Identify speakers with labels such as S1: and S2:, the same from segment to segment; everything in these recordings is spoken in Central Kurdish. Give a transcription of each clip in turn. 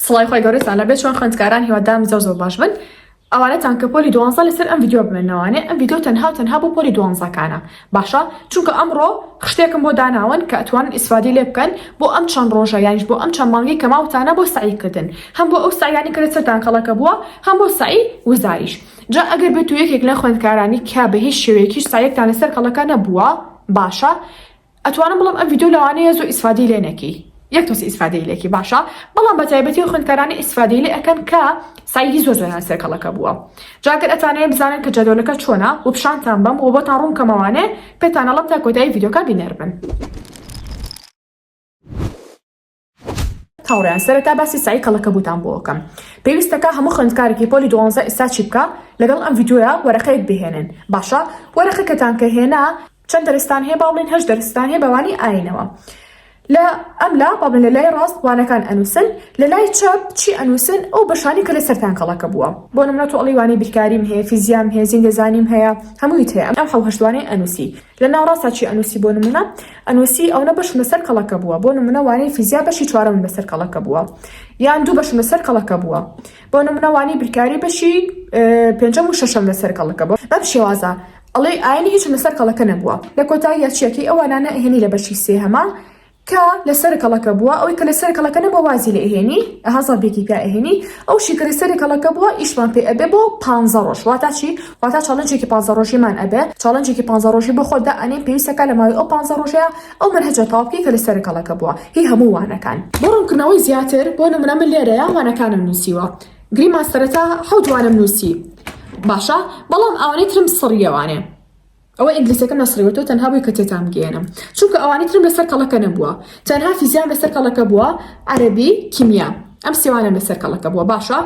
S1: سڵای خوای گەورەتان لەبێت چۆن خوێندکاران هیوادارم زۆر زۆر باش بن ئەوانەتان کە پۆلی دوانزە لەسەر ئەم ڤیدیۆ بمێنەوانێ ئەم ڤیدیۆ تەنها و تەنها بۆ پۆلی دوانزەکانە باشە چونکە ئەمڕۆ خشتێکم بۆ داناون کە ئەتوانن ئیسفادی لێ بکەن بۆ ئەم چەند ڕۆژە یانیش بۆ ئەم چەند مانگەی کە ماوتانە بۆ سەعی کردن هەم بۆ ئەو سەعیانی کە لەسەرتان کەڵەکە بووە هەم بۆ سەعی وزاریش جا ئەگەر بێت و یەکێک لە خوێندکارانی کە بە هیچ شێوەیەکیش سەعیەکتان لەسەر کەڵەکە نەبووە باشە ئەتوانم بڵێم ئەم ڤیدیۆ لەوانەیە زۆر ئیسفادەی لێ نەکەی یەک تۆسی ئیسفادەی لێکی باشە بەڵام بە تایبەتی و خوێندکارانی ئیسفادەی لێ ئەەکەن کە سایدی زۆر زۆیان سێکەڵەکە بووە جاگەر ئەتوانێت بزانن کە جەدۆلەکە چۆنا و پیشانتان بەم و بۆتان ڕوون کەمەوانێ پێتانەڵم تا کۆتایی ڤیدیۆکە بینەر بن. هاوڕێیان سەرەتا باسی سەعی کەڵەکەبووتان بۆ ئەکەم پێویستەکە هەموو خوێندکارێکی پۆلی دوانزە ئیستا چی بکا لەگەڵ ئەم ڤیدیۆیە وەرەقەیەک بهێنن باشە وەرەقەکەتان کە هێنا چەند دەرستان هەیە باڵێن هەشت دەرستان هەیە بەوانی ئاینەوە لە ئەم لا بابن لە لای ڕاست وانەکان ئەنووسن لە لای چەپ چی ئەنووسن ئەو بەشانی کە لە سەران کەڵەکە بووە بۆ نمرەت و ئەڵیوانی بیرکاریم هەیە فیزیام هەیە زیندەزانیم هەیە هەموویت هەیە ئەم حەوهشتوانەی ئەنووسی لە ناوەڕاستا چی ئەنووسی بۆ نموونە؟ ئەنووسی ئەونە بەشم لە سەر کەڵەکە بووە، بۆ نموونە وانەی فیزیا بەشی چوارەمم لە سەر کەڵەکە بووە، یان دوو بەشم لە سەر کەڵەکە بووە. بۆ نموونە وانەی بیرکاری بەشی پێنجەم و شەشەم لە سەر کەڵەکە بووە. بەم شێوازە ئەڵێی ئاینی هیچم لە سەر کەڵەکە نەبووە. لە کۆتاییا چییەکەی ئەو وانانە ئەهێنی لە بەشی سێهەما کە لە سەر کەڵەکە بووە ئەوی کە لە سەر کەڵەکە نەبووە وازی لێ ئەهێنی ئەها زەربێکی پیا ئەهێنی ئەو شی کە لە سەر کەڵەکە بووە ئیشمان پێ ئەبێ بۆ پانزە ڕۆژ واتا چی واتا چاڵنجێکی پانزە ڕۆژیمان ئەبێ چاڵنجێکی پانزە ڕۆژی بۆ خۆت دائەنێین پێویستە کە لە ماوەی ئەو پانزە ڕۆژەیا ئەو مەنهەجە تەواو بکەی کە لە سەر کەڵەکە بووە هی هەموو وانەکان بۆ ڕوونکردنەوەی زیاتر بۆ نموونە من لێرەیا وانەکانم نووسیوە گریمان سەرەتا حەوت وانەم نووسی باشە بەڵام ئەوانەی ترم سڕییەوانێ ئەوە ئینگلیزەکەم نەسڕیوە تۆ تەنها بووی کە تێتان بگەیەنم چونکە ئەوانی ترم لەسەر کەڵەکە نەبووە تەنها فیزیام لەسەر کەڵەکە بووە عەرەبی کیمیا ئەم سێوانەم لەسەر کەڵەکە بووە باشە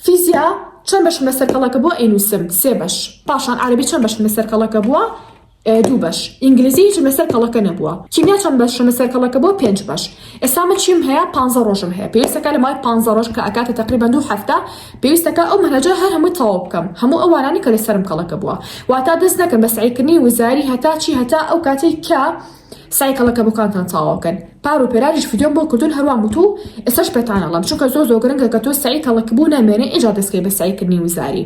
S1: فیزیا چەند بەشم لەسەر کەڵەکە بووە ئەینووسم سێ بەش پاشان عەرەبی چەند بەشم لەسەر کەڵەکە بووە دوو بەش ئینگلیزی هیچم لەسەر کەڵەکە نەبووە کیمیا چەند بەشم لەسەر کەڵەکە بووە پێنج بەش ئێستا من چیم هەیە پانزە ڕۆژم هەیە پێویستەکە لە مای پانزە ڕۆژ کە ئەکاتە تقریبا دوو هەفتە پێویستەکە ئەو مەنهەجە هەر هەمووی تەواو بکەم هەموو ئەو وانانی کە لەسەرم کەڵەکە بووە واتا دەست نەکەم بە سعیکردنی وزاری هەتا چی هەتا ئەو کاتەی کە سای کەڵەکە بۆکانتان تەواوکەن پار و پێرانیش فیدۆم بۆ کردون هەروان وتو ئێسش پێتانەڵم چونکە زۆ زۆگرنگە کە تۆ سعی کەڵک بوو نامێنێ ئێجا دەستکەی بە سعیکردنی وزاری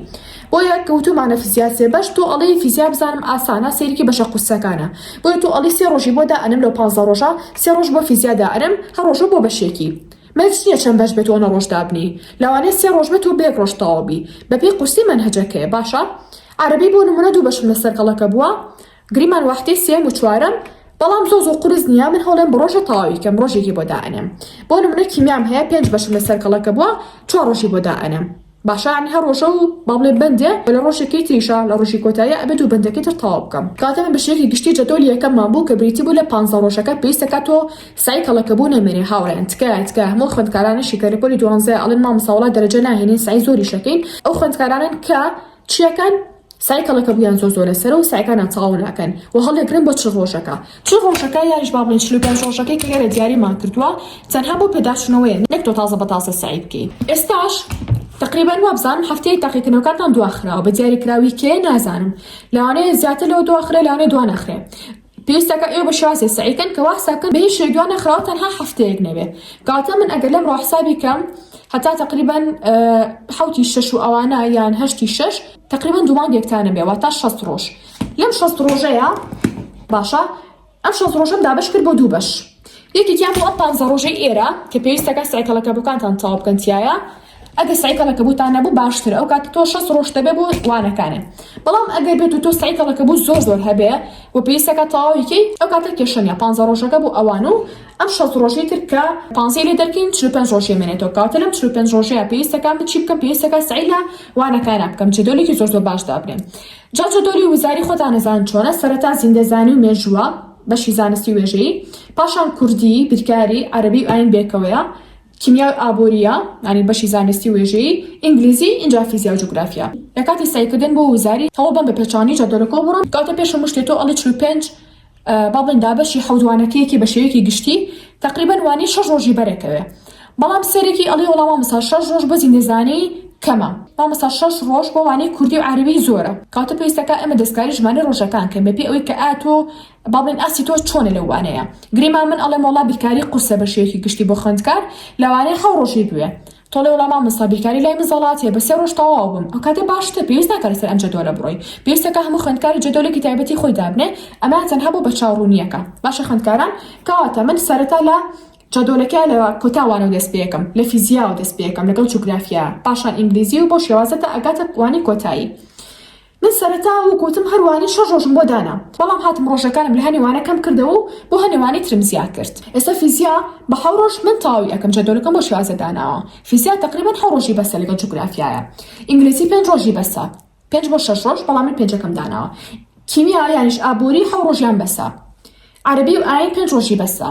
S1: بۆیە کەوتومانە فیزیا سێ بەش تۆ ئەڵێی فیزیا بزانم ئاسانە سەیرکی بەشە قورسەکانە بۆیە تۆ ئەڵێی سێ ڕۆژی بۆ دائەنم لەو پانزە ڕۆژە سێ ڕۆژ بۆ فیزیا دائەنم هەر ڕۆژە بۆ بەشێکی مەرج نیە چەند بەش بێت وەنە ڕۆژ دابنێی لەوانەیە سێ ڕۆژ بێت و بەیەک ڕۆژ تەواو بی بەپێی قورسی مەنهەجەکەیە باشە عەرەبی بۆ نمونە دوو بەشم لەسەر کەڵەکە بووە گریمان واحدەی سێم و چوارەم بەڵام زۆ زۆ قورس نیە من هەڵێم بڕۆژە تەواوی کەم ڕۆژێکی بۆ دائەنم بۆ نمونە کیمیام هەیە پێنج بەشم لەسەر کەڵەکە بووە چوار ڕۆژی بۆ دائەنم باشە عنی هەر ڕۆژەو با بڵێ بەندێ وە لە ڕۆژێکی تریشا لە ڕۆژی کۆتاییا ئەبێ دوو بەندەکەی تر تەواو بکەم کاتێ من بەشێکی گشتی جەدۆلی یەکەممان بوو کە بریتی بوو لە پانزە ڕۆژەکە پێویست دەکا تۆ سەعی کەڵەکە بوو نەمێنێ هاوڕێیان تکایە تکایە هەموو ئەو خوێندکارانەشی کە لە پۆلی دوانزەیە ئەڵێن مامۆستا وەڵا دەرەجە ناهێنین سەعی زۆریش ئەکەین ئەو خوێندکارانەن کە چیەکەن سەعی کەڵەکە بوویان زۆر زۆرە سەرە و سەعیکانیان تەواو ناکەن و هەڵدەگرن بۆ چل ڕۆژەکە چل ڕۆژەکە یانیش با بڵێین چل و پێنج ڕۆژەکەی کە ئێرە دیاریمان کردووە تەنها بۆ پێداچوونەوەیە نەک تۆ تازە بە تازە سەعی بکەی ئێستاش تقریبا وابزانم هەفتەیەک تاقیکردنەوەکانتان دواخراوە بە دیاریکراوی کێ نازانم لەوانەیە زیاتر لەوە دواخرێ لەوانەیە دوانەخرێ پێویستە کە ئێوە بە شێوازێ سەعی کەن کە وا حساب کەن بە هیچ شتێک دوا نەخراو تەنها هەفتەیەک نەبێ کەواتە من ئەگەر لەمڕۆ حسابی کەم هەتا تقریبا حوتی شەش و ئەوانە یان هەشتی شەش تقریبا دوومانگێکتانە بێ واتا شەست ڕۆژ لەم شەست ڕۆژەیە باشە ئەم شەست ڕۆژەم دابش کرد بۆ دوو بەش یەکێکیان بۆ ئەم پانزە ڕۆژەی ئێرە کە پێویستەکە سەعی کەڵەکەبووکانتان تەواو بکەن تیایە، ئەگەر سەعی کەڵەکەبووتان نەبوو باشترە ئەو کاتە تۆ شەست ڕۆژت دەبێ بۆ وانەکانێ بەڵام ئەگەر بێت و تۆ سەعی کەڵەکەبووت زۆر زۆر هەبێ و پێویستەکە تەواوی کەی ئەو کاتە کێشە نیە پانزە ڕۆژەکە بۆ ئەوان و ئەم شەست ڕۆژەی تر کە پانزەی لێ دەرکەین چل و پێنج ڕۆژ یەمێنێتەوە کەواتە لەم چل و پێنج ڕۆژەیە پێویستەکان من چی بکەم پێویستەکە سەعی لە وانەکانە بکەم جەدۆلێکی زۆر زۆر باش دابنێم جا جەدۆلی وزاری خۆتان نەزان چۆنە سەرەتا زیندەزانی و مێژووە بەشی زانستی وێژەیی، پاشان کوردی، بیرکاری، عەرەبی و ئایین بەیەکەوەیە، کیمیا و ئابوورییە، یانی بەشی زانستی وێژەیی، ئینگلیزی، ئینجا فیزیا و جوگرافیا. لە کاتی سەعیکردن بۆ وزاری، هەوڵ بەم بە پێچەوانەی جەدۆلەکەوە بڕۆن، کەواتە پێش هەموو شتێ تۆ ئەڵێی چل و پێنج، با بڵێین دابەشی حەوت وانەکەیەکی بە شێوەیەکی گشتی، تەقریبەن وانەی شەش ڕۆژی بەرێکەوێ، بەڵام سەرێکی ئەڵێ وەڵا مامۆستا شەش ڕۆژ بۆ زیندەزانی کەمە مامۆستا شەش ڕۆژ بۆ وانەی کوردی و عەرەبی زۆرە کەواتە پێویستەکا ئێمە دەستکاری ژمارەی ڕۆژەکان کەین بەپێی ئەوەی کە ئایا تۆ با بڵێین ئاستی تۆ چۆنە لەو وانەیە گریمان من ئەڵێم وەڵا بیرکاری قورسە بە شێوەیەکی گشتی بۆ خوێندکار لەوانەیە حەو ڕۆژی بوێ تۆڵێ وەڵا مامۆستا بیرکاری لای من زەڵات هەیە بە سێ ڕۆژ تەواو بم ئەو کاتە باشتر پێویست ناکات لەسەر ئەم جەدۆلە بڕۆی پێویستەکە هەموو خوێندکاری جەدۆلێکی تایبەتی خۆی دابنێ ئەمە تەنها بۆ بەرچاوڕوونییەکە باشە خوێندکاران کەواتە من سەرەتا لە جادۆلەکە لە کۆتا وانەو دەست پێکەم لە فیزیاوە دەست پێکەم لەگەڵ جوگرافیا پاشان ئینگلیزی و بەو شێوازە تا ئەگاتە وانەی کۆتایی من سەرەتا و گوتم هەر وانەی شەش ڕۆژم بۆ دانا بەڵام هاتم ڕۆژەکانم لە هەنێ وانە کەم کردەوە و بۆ هەنێ وانەی ترم زیاد کرد ئێستا فیزیا بە حەو ڕۆژ من تەواوی ئەکەم جادۆلەکەم بۆ شێوازە داناوە فیزیا تقریبا حەو ڕۆژی بەسە لەگەڵ جوگرافیایە ئینگلیزی پێنج ڕۆژی بەسە پێنج بۆ شەش ڕۆژ بەڵام من پێنجەکەم داناوە کیمیا یانیش ئابووری حەو ڕۆژیان بەسە عربی و ئاین پێنج ڕۆژی بەسە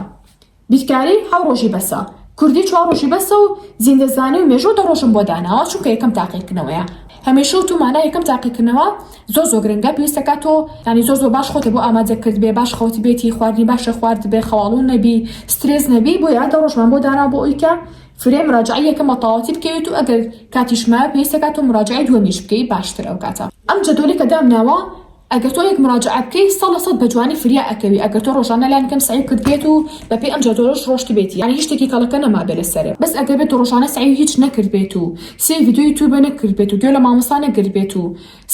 S1: بیرکاری حەو ڕۆژی بەسە کوردی چوار ڕۆژی بەسە و زیندەزانی و مێژۆ دە ڕۆژم بۆ داناوە چونکە یەکەم تاقیکردنەوەیە هەمیشە و تومانە یەکەم تاقیکردنەوە زۆر زۆر گرنگە پێویستەکە تۆ ینی زۆر زۆر باش خۆتە بۆ ئامادە کرد بێ باش خەوت بێتی خواردنی باشە خوارد بێ خەواڵو نەبی سترێز نەبی بۆ یادە ڕۆژمان بۆ دانا بۆ ئەویکە فرێ مراجەعەی یەکەم بە تەواوەتی بکەوێت و ئەگەر کاتیش مایە پێویست دەکات تۆ مراجەعەی دووەمیش بکەی باشتر ئەو کاتە ئەم جەدۆلەی کە دامناوە ئەگەر تۆ یەک مراجەعە بکەی سەد لە سەد بە جوانی فریا ئەکەوی ئەگەر تۆ ڕۆژانە لانی کەم سەعی کردبێت و بە پێی ئەم جەدۆلەش ڕۆشتبێتی یانی هیچ شتێکی کەڵەکە نەمابێت لە سەرت بەس ئەگەر بێت تۆ ڕۆژانە سەعی و هیچ نەکردبێت و سەیر ڤیدیۆ یوتیوبە نەکردبێت و گوێ لە مامۆستا نەگرتبێت و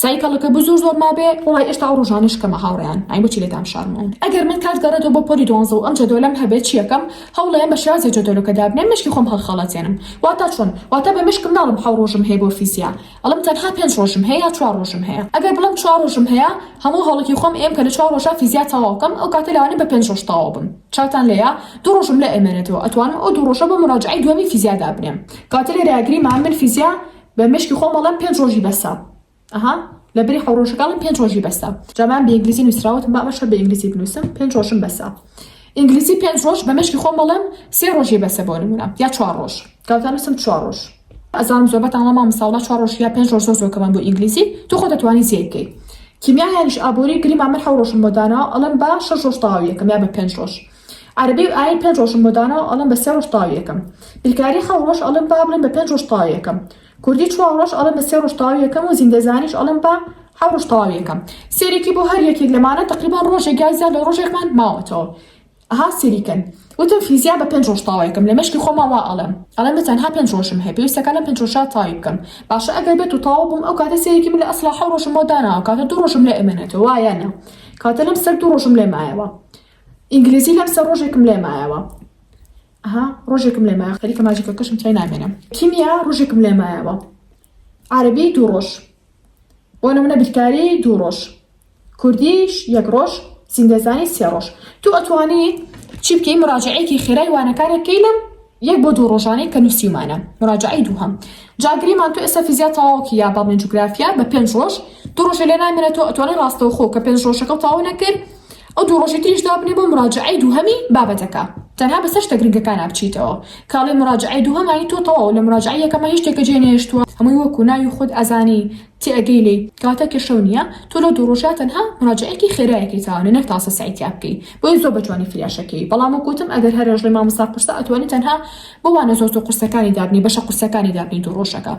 S1: سای کەڵەکە بو زۆر زۆر مابێ وڵای ئێشتا ئەو ڕۆژانە شکەمە هاوڕێیان ئەی بۆچی لێ دامشارمەوە ئەگەر من کات گەڕێتەوە بۆ پۆلی دوانزە و ئەم جەدۆلەم هەبێت چیەکەم هەوڵەیەم بە شێوازێ جەدۆلەکە دابنێم مێشکی خۆم هەڵخەڵەتێنم واتا چۆن واتا بە مێشکم ناڵێم حەو ڕۆژم هەیە بۆ فیزیا ئەڵێم تەنها پێنج ڕۆژم هەیە یا چوار ڕۆژم هەیە ئەگەر بڵێم چوار ڕۆژم هەیە هەموو هەوڵێکی خۆم ئەیەم کە لە چوار ڕۆژا فیزیا تەواو بکەم ئەو کاتە لەوانەیە بە پێنج ڕۆژ تەواو بم چاوتان لێیە دوو ڕۆژم لێ ئەمێنێتەوە ئەتوانم ئەو دوو ڕۆژە بۆ مراجعەی دووەمی فیزیا دابنێم کەواتە لێرە گریمان من فیزیا بە مێشکی خۆم ئەڵێم پێنج ڕۆژی بەسە ئەها لە بری حەو ڕۆژەکە ئەڵێم پێنج ڕۆژی بەسە جا من بە ئینگلیزی نووسراوەتم با ئەمەش هەر بە ئینگلیزی بنووسم پێنج ڕۆژم بەسە ئینگلیزی پێنج ڕۆژ بە مێشکی خۆم ئەڵێم سێ ڕۆژی بەسە بۆ نموونە یا چوار ڕۆژ کاتان نووسم چوار ڕۆژ ئەزانم زۆربەتان وەڵام مامۆستا وەڵا چوار ڕۆژ یا پێنج ڕۆژ زۆر زۆر کەمن بۆ ئینگلیزی تو خۆ دەتوانی زیای بکەی کیمیایانیش ئابووری گریما من حەو ڕۆژم بۆ داناوە ئەڵێم با شەش ڕۆژ تەواوی یەکەم یا بە پێنج ڕۆژ عەرەبی و ئاین پێنج ڕۆژم بۆ داناوە ئەڵێم بە سێ ڕۆژ تەواوی ئەکەم بیرکاری حەو ڕۆژ ئەڵێم با بڵێم بە پێنج ڕۆژ تەواوی ئەکەم کوردی چوار ڕۆژ ئەڵێم بە سێ ڕۆژ تەواوی ئەکەم و زیندەزانیش ئەڵێم با حەو ڕۆژ تەواوی ئەکەم سێرێکی بۆ هەر یەکێک لەمانە تەقریبان ڕۆژێک یا زیاد لە ڕۆژێکمان ماوەتەوە ئەها سێری کەن وتم فیزیا بە پێنج ڕۆژ تەواوی ئەکەم لە مێشکی خۆما وا ئەڵێم ئەڵێم بە تەنها پێنج ڕۆژم هەیە پێویستەکە لەم پێنج ڕۆژە تەواوی بکەم باشە ئەگەر بێت و تەواو بووم ئەو کاتە سێرێکی من لە ئەسڵا حەو ڕۆژم بۆ داناوە کاتە دوو ڕۆژم لێ ئەمێنێتەوە وایە نا کاتە لەم سەر دوو ڕۆژم لێ مایەوە ئینگلیزی لەم سەر ڕۆژێکم لێ مایەوە ئەها ڕۆژێکم لێ مایە خەریکە ماجیکەکەشم تای نامێنم کیمیا ڕۆژێکم لێ مایەوە عربی دوو ڕۆژ بۆ نمونە بیرکاری دوو ڕۆژ کوردیش یەک ڕۆژ زیندەزانی سێ ڕۆژ تو ئەتوانی چی بکەی مراجعەیەکی خێرای وانەکانێک کەی لەم یەک بۆ دوو ڕۆژانەی کە نووسیومانە مراجعەی دووهەم جا گریمان تۆ ئێستا فیزیا تەواوکە یا بەڵێن جوگرافیا بە پێنج ڕۆژ دوو ڕۆژە لێ نامێنێت تۆ ئەتوانێت ڕاستەوخۆ کە پێنج ڕۆژەکە تەواو نەکرد ئەو دوو ڕۆژی تریش دابنێ بۆ مراجعەی دووهەمی بابەتەکە تەنها بە سەر شتە گرنگەکانە بچیتەوە کاڵی مراجعەی دووهەمانی تۆ تەواو لە مراجعەی یەکەمە هیچ شتێکە جێ نەهێشتووە هەمووی وەکو ناوی خۆت ئەزانی تێئەگەی لێی کاتە کێشەو نیە تۆ لەو دوو ڕۆژە تەنها مراجەعەیەکی خێرایەکەی تاوانە نەک تاسە سەعی تیا بکەی بۆیە زۆر بەجوانی فریاشەکەی بەڵام وەک وتم ئەگەر هەر ئەژڵێی مامۆستا قورسە ئەتوانی تەنها بۆ وانە زۆر زۆر قورسەکانی دابنێی بەشە قورسەکانی دابنێی دوو ڕۆژەکە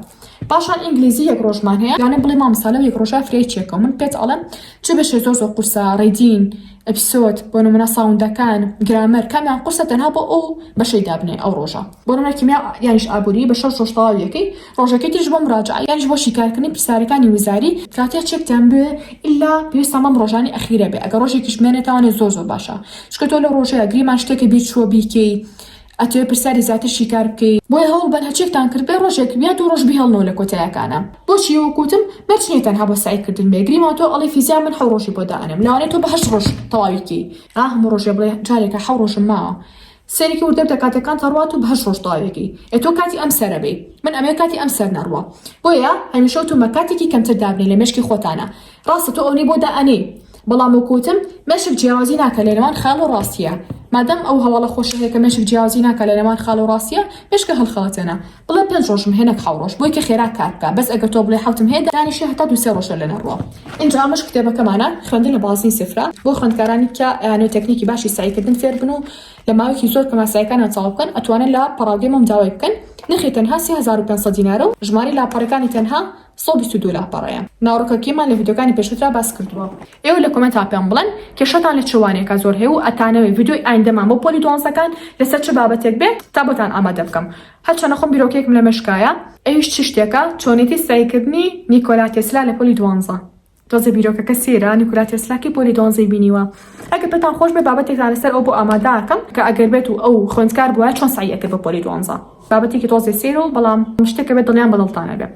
S1: پاشان ئینگلیزی یەک ڕۆژمان هەیە یانێ بڵێ مامۆستا لەو یەک ڕۆژە فریای چیە کەم من پێت ئەڵێم چ بەشێ زۆر زۆر قورسە ڕیدین ئەپسۆد بۆ نمونە ساوندەکان گرامەر کامیان قورسە تەنها بۆ ئەو بەشەی دابنێ ئەو ڕۆژە بۆ نمونە کیمیا یانیش ئابووری بە شەش ڕۆژ تەواویەکەی ڕۆژەکەی تریش بۆ مراجەعە یانیش بۆ شیکارکردنی پرسیارەکانی وزاری کاتێ چێکتان بوێ ئیلا پێویستان بەم ڕۆژانەی ئەخیرە بێ ئەگەر ڕۆژێکیش بمێنێتەوانێ زۆر زۆر باشە چونکە تۆ لەو ڕۆژەیە گریمان شتێکە بیر چووە بیکەی ئەتوێ پرسیاری زیاتر شیکار بکەی بۆیە هەوڵ بەن هەچێکتان کرد بێ ڕۆژێک یا دوو ڕۆژ بهێڵنەوە لە کۆتایەکانە بۆچی وەکوتم مەرج نییە تەنها بۆ سەعی کردن بێ گریمان تۆ ئەڵێی فیزیا من حەو ڕۆژی بۆ دائەنێم لەوانەیە تۆ بە هەشت ڕۆژ تەواوی کەی ئا هەموو ڕۆژێ بڵێ جارێکە حەو ڕۆژم ماوە سەیرێکی وردە بکە کاتێکان تەڕوات و بە هەشت ڕۆژ تەواویەکەی ئەتۆ کاتی ئەم سەرە بێی من ئەمەوێ کاتی ئەم سەر نەڕوا بۆیە هەمیشە وتومە کاتێکی کەمتر دابنێ لە مێشکی خۆتانا ڕاستە تۆ ئەونەی بۆ دا ئەنێی بەڵام وەکو وتم مێشک جیاوازی ناکە لە نێوان خەیاڵ و ڕاستیە مادام ئەو هەواڵە خۆشە هەیە کە مێشک جیاوازی ناکە لە نێوان خەیاڵ و ڕاستیە مێشکە هەڵخەڵەتێنە بڵێ پێنج ڕۆژم هەیە نەک حەو ڕۆژ بۆی کە خێرا کار بکا بەس ئەگەر تۆ بڵێ حەوتم هەیە دانیشە هەتا دوو سێ ڕۆژە لەنە ڕۆ ئینجا ئەمەش کتێبەکەمانە خوێندن لە بازنی سفرە بۆ خوێندکارانی کە ئەیانەوێت تەکنیکی باشی سەعیکردن فێر بن و لە ماوەیەکی زۆر کە ماسایەکانیان تەواو بکەن ئەتوانن لە پەڕاوگەی مەم داوای بکەن نرخی تەنها سێ هەزار و پێنج سەد دینارە و ژمارەی لاپەڕەکانی تەنها سەد و بیست و دوو لاپەڕەیە ناوڕکەکیمان لە ڤیدۆکانی پێشوترا باس کردووە. ئێوە لە کۆمێنتا پێم بڵێن کێشەتان لە چ وانەیەکا زۆر هەیە و ئەتانەوێ ڤیدۆی ئایندەمان بۆ پۆلی دوانزەکان لەسەر چ بابەتێک بێ تا بۆتان ئامادە بکەم هەرچەنە خۆم بیرۆکەیەکم لە مێشکایە ئەویش چ شتێکە چۆنێتی سەعیکردنی نیکۆلا تێسلا لە پۆلی دوانزە تۆزێ بیرۆکەکە سەیرە نیکولا تێسلا کەی پۆلی دۆنزەی بینیوە ئەگەر پێتان خۆش بێ بابەتێکتان لەسەر ئەو بۆ ئامادەکەم کە ئەگەر بێت و ئەو خوێندکار بوایە چۆن سەعی ئەکرد بۆ پۆلی دۆنزە بابەتێکی تۆزێ سەیرە و بەڵام شتێکە بێت دڵیان بە دڵتانە بێ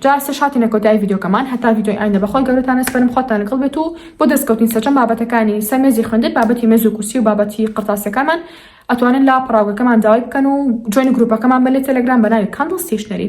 S1: جا سێ شاتینە کۆتایی ڤیدیۆکەمان هەتا ڤیدیۆی ئایندە بەخۆی گەورەتانە سپەرم خۆتان لەگەڵ بێت و بۆ دەستکەوتنی سەرجەم بابەتەکانی سەر مێزی خوێندن بابەتی مێز و کورسی و بابەتی قڕتاسیەکانمان ئەتوانن لا پەڕاوگەکەمان داوای بکەن و جوێنی گروپەکەمان بەلێ تەلەگرام بە ناوی کاندڵ ستیشنەری